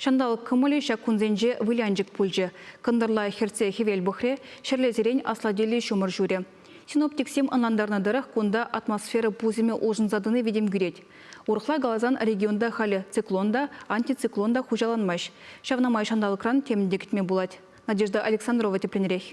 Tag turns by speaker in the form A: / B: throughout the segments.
A: Ҫанталӑк кӑмӑлӗ ҫак кунсенче вылянчӑк пулчӗ. Кӑнтӑрла хӗртсе хӗвел пӑхрӗ, ҫӗрлесерен аслатиллӗ ҫумӑр ҫурӗ. Синоптиксем ӑнлантарнӑ тӑрӑх, кунта атмосфера пусӑмӗ улшӑнса тӑни витӗм кӳрет. Урӑхла каласан, регионта халӗ циклон та, антициклон та хуҫаланмасть. Ҫавна май ҫанталӑкран темӗн те кӗтме пулать. Надежда Александрова тӗплӗнрех.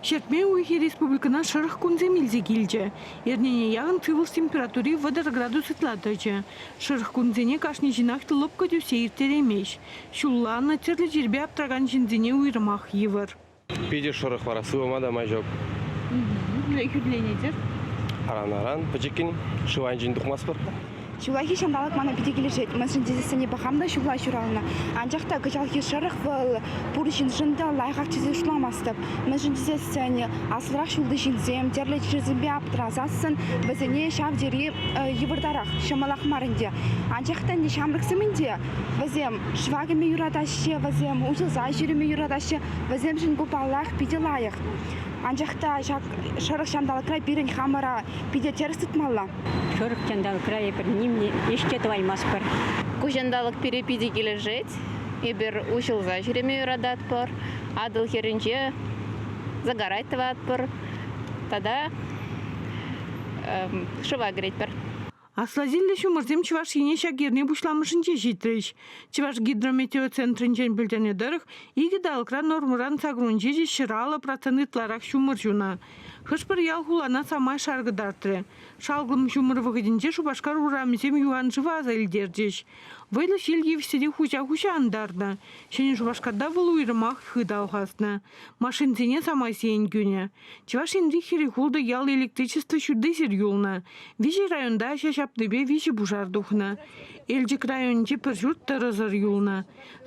B: Ҫӗртме уйӑхӗ республикӑна шӑрӑх кунсем илсе килчӗ. Эрнене яхӑн сывлӑш температури вӑтӑр градус ытла тӑчӗ. Шӑрӑх кунсене кашни ҫынах лӑпкӑ тӳссе ирттереймест. Ҫулланнӑ, тӗрлӗ чирпе аптракан ҫынсене уйрӑмах йывӑр. Питӗ шӑрӑх
C: вара, сывӑма та май ҫук.
B: Хӳтӗленетӗр?
C: Аран-аран, пӗчӗккӗн шыв айӗнчен тухмастпӑр. Ҫуллахи ҫанталӑк
D: мана питӗ килӗшет. Мӗншӗн тесессӗн пӑхам та ҫулла ҫуралнӑ. Анчах та кӑҫалхи шӑрӑх вӑл пур ҫыншӑн та лайӑхах тесе шутламастӑп. Мӗншӗн тесессӗн аслӑрах ҫулти ҫынсем тӗрлӗ чирсемпе аптӑрасассӑн вӗсене ҫав тери йывӑртарах, ҫӑмӑлах мар ӗнтӗ. Анчах та ӗнтӗ ҫамрӑксем ӗнтӗ вӗсем шыва кӗме юратаҫҫӗ, вӗсем усӑлса ҫӳреме юратаҫҫӗ. Вӗсемшӗн ку паллах питӗ лайӑх. Анчах та ҫак шӑрӑх ҫанталӑкра пирӗн хамӑра питӗ тӗрӗс тытмалла. Шурӑк ҫанталӑкра
E: эпир ним ӗҫ тӑваймастпӑр. Ку ҫанталӑк пире
F: питӗ килӗшет. Эпир уҫӑлса ҫӳреме юрататпӑр, Атӑл хӗрринче загорать тӑватпӑр тата шыва кӗретпӗр. Асласиллӗ
B: ҫумӑрсем Чӑваш Ене ҫак эрне пуҫламӑшӗнче ҫитрӗҫ. Чӑваш гидрометеоцентрӗнчен пӗлтернӗ тӑрӑх, икӗ талӑкра нормӑран саккунҫӑ ҫӗр алӑ процент ытларах ҫумӑр ҫунӑ. Хӑш-пӗр ял-хулана самай шар кӑтартрӗ. Шалкӑм ҫумӑр вӑхӑтӗнче Шупашкар урамӗсем юханшыва аса илтерчӗҫ. Вӑйлӑ ҫил тивсе те хуҫа-хуҫа антарнӑ. Ҫӗнӗ Шупашкарта вӑл уйрӑмах хыт алхаснӑ. Машинсене самай сиен кӳнӗ. Чӑваш Енри хӗрӗ-хултӑ ял электричество ҫуртисӗр юлнӑ. Виҫӗ районта ҫа ҫапнипе виҫӗ пушар тухнӑ. Элчӗк районӗнче пӗр ҫурт тӑрӑсӑр юлнӑ.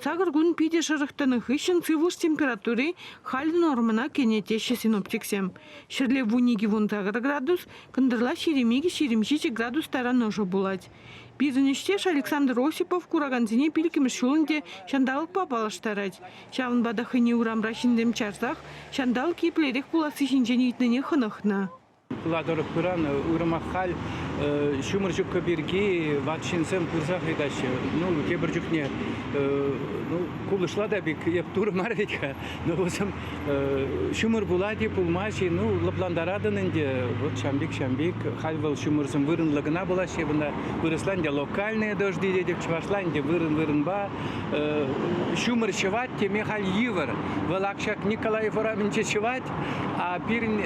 B: Сакӑр кун питӗ шӑрӑх тӑнӑ хыҫҫӑн сывлӑш температури халӗ нормӑна кӗнӗ теҫҫӗ синоптиксем. Ҫӗрле вун икӗ вун сакӑр градус, кӑнтӑрла ҫирӗм икӗ ҫирӗм ҫичӗ градус таран ӑшӑ пулать. Пирӗн ӗҫтеш Александр Осипов куракансене пилӗкмӗш ҫул ӗнтӗ ҫанталӑкпа паллаштарать. Ҫавӑнпа та хӑйне урамра ҫынсем чарсах ҫанталӑк еплерех пуласси ҫинчен ыйтнине хӑнӑхнӑ. Ытла тӑрӑх
G: пыран уйрӑмах халь ҫумӑр ҫупкӑ пирки ват ҫынсем пырсах ыйтаҫҫӗ. Ну, тепӗр чухне ну, кулӑшла та пек эп турӑ мар вӗт-ха. Ну, вӑсӑм ҫумӑр пулать-и, пулмасть-и, ну, лӑплантаратӑн ӗнтӗ. Вот ҫампик, ҫампик. Халь вӑл ҫумӑрсем вырӑнлӑ кӑна пулаҫҫӗ вырӑна. Вырӑсла ӗнтӗ локальные дожди тетӗп, чӑвашла ӗнтӗ вырӑн-вырӑнпа. Ҫумӑр ҫӑвать теме халь йывӑр. Вӑл ак ҫак Николаев урамӗнче ҫӑвать, Пирӗн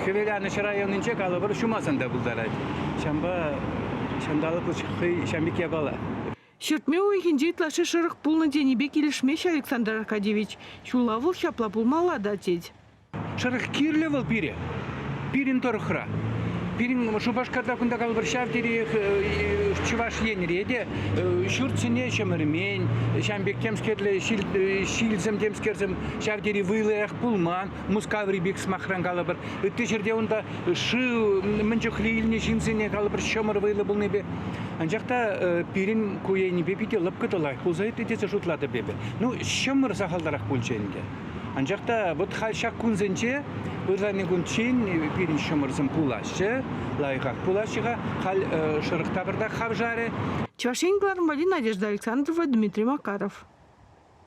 G: Хӗвеланӑҫ районӗнче калӑпӑр ҫумасан та пултарать. Ҫавӑнпа ҫанталӑклӑх хӑй ҫавӑн пек япала. Ҫӗртме
B: уйӑхӗнче ытлашши шӑрӑх пулнӑ тенипе килӗшмест Александр Аркадьевич. Ҫулла вӑл ҫапла пулмалла та, тет. Шӑрӑх
G: кирлӗ вӑл пире, пирӗн тӑрӑхра. Пирӗн Шупашкарта кунта калӑпӑр ҫав териех Чӑваш Енре те ҫурт сӗне ҫӗмӗрмен, ҫавӑн пек темскерле ҫилсем темскерсем ҫав тери вӑйлӑах пулман. Мускаври пек сӑмахран калӑпӑр. Ытти ҫӗрте унта шыв мӗн чухлӗ илнӗ ҫынсене калӑпӑр ҫӑмӑр вӑйлӑ пулнипе. Анчах та пирӗн ку енӗпе питӗ лӑпкӑ та лайӑх пулса иртрӗ тесе шутлатӑп эпӗ. Ну, ҫӑмӑр сахалтарах пулчӗ ӗнтӗ. Анчах та вот халь ҫак кунсенче ырлани кунччен пирӗн ҫӑмӑрсем пулаҫҫӗ, лайӑхах пулаҫҫӗ-ха. Халь шӑрӑх тавӑртах
B: хавшарӗ. Чӑваш
G: Ен
B: главноборӗ Надежда Александрова,
G: Дмитрий
B: Макаров.